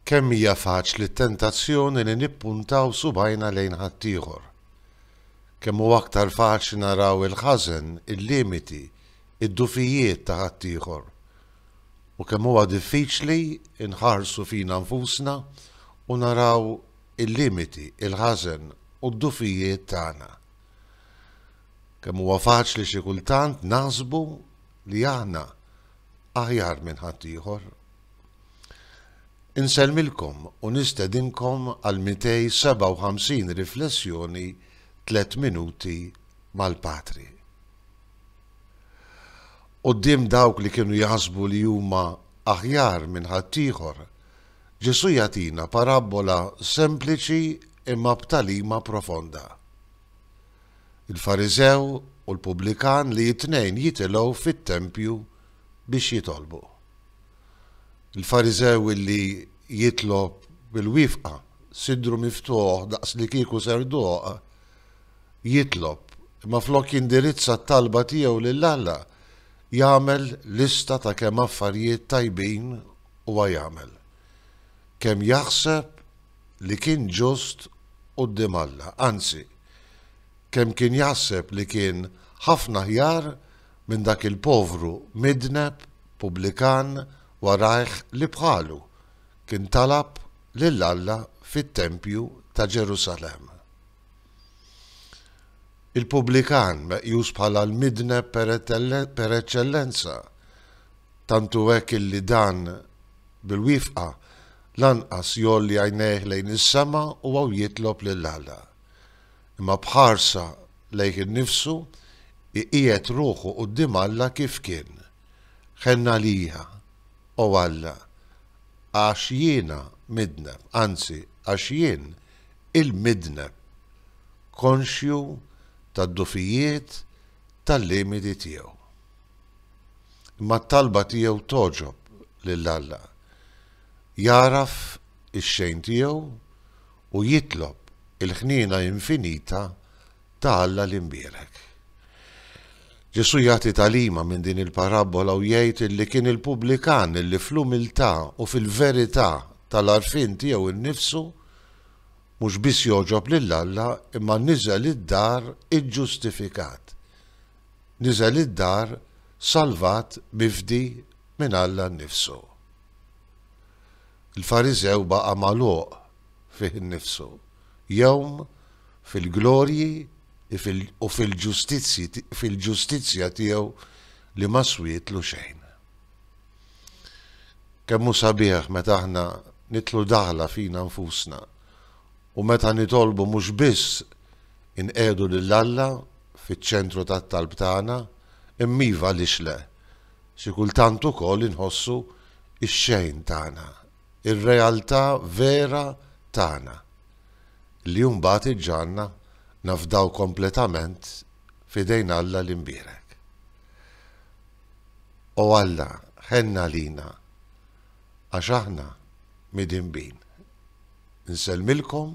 Kemm hija faċli t-tentazzjoni li nippuntaw subgħajna lejn ħaddieħor! Kemm hu aktar faċli naraw il-ħażen, il-limiti, id-djufijiet ta' ħaddieħor! U kemm huwa diffiċli nħarsu fina nfusna u naraw il-limiti, il-ħażen u d-djufijiet tagħna! Kemm huwa faċli xi kultant naħsbu li aħna aħjar minn ħaddieħor. Insellmilkom u nistedinkom għal 257 riflessjoni tliet minuti mal-Patri. Qudiem dawk li kienu jaħsbu li huma aħjar minn ħaddieħor, Ġesu jagħtina parabbola sempliċi imma b'talima profonda. il-Fariżew u l-pubblikan li t-tnejn jitilgħu fit-tempju biex jitolbu. Il-Fariżew illi jitlob bil-wiefqa, sidru miftuħ daqs li kieku serduq, jitlob, imma flok jindirizza t-talba tiegħu lil Alla, jagħmel lista ta' kemm affarijiet tajbin huwa jagħmel, kemm jaħseb li kien ġust quddiem Alla, anzi, kemm kien jaħseb li kien ħafna aħjar minn dak il-povru midneb pubblikan warajh li bħalu kien talab lil Alla fit-tempju ta' Ġerusalemm. Il-pubblikan meqjus bħala l-midneb per eċċellenza Tant hu hekk illi dan, bil-wiefqa, lanqas jgħolli għajnejh lejn is-sema u hawn jitlob lil Alla. Imma b'ħarsa lejh innifsu, iqiegħed ruħu quddiem Alla kif kien, Ħenn għalija, O Alla, għax jiena midneb, anzi, għax jien, il-midneb, konxju tad-dgħufijiet tal-limiti tiegħu. Imma t-talba tiegħu togħġob lil Alla. Jagħraf ix-xejn tiegħu u jitlob il-ħniena infinita ta' Alla l-Imbierek. Ġesù jagħti tagħlima minn din il-parabbola u jgħid illi kien il-pubblikan illi fl-umiltà u fil-verità tal-għarfien tiegħu nnifsu mhux biss jogħġob lil Alla imma niżel id-dar iġġustifikat. Niżel id-dar salvat mifdi minn Alla nnifsu. Il-Fariżew baqa' magħluq fih innifsu, jgħum fil-glorji u fil-ġustizzja tiegħu li ma swietlu xejn. Kemm hu sabiħ meta aħna nidħlu daħla fina nfusna u meta nitolbu mhux biss inqiegħdu lil Alla fiċ-ċentru tat-talb tagħna, imma iva għaliex le, xi kultant ukoll inħossu x-xejn tagħna, ir-realtà vera tagħna, li mbagħad iġġagħalna nafdaw kompletament f'idejn Alla l-Imbierek. O Alla, ħenn għalina, għax aħna midinbin. Insellmilkom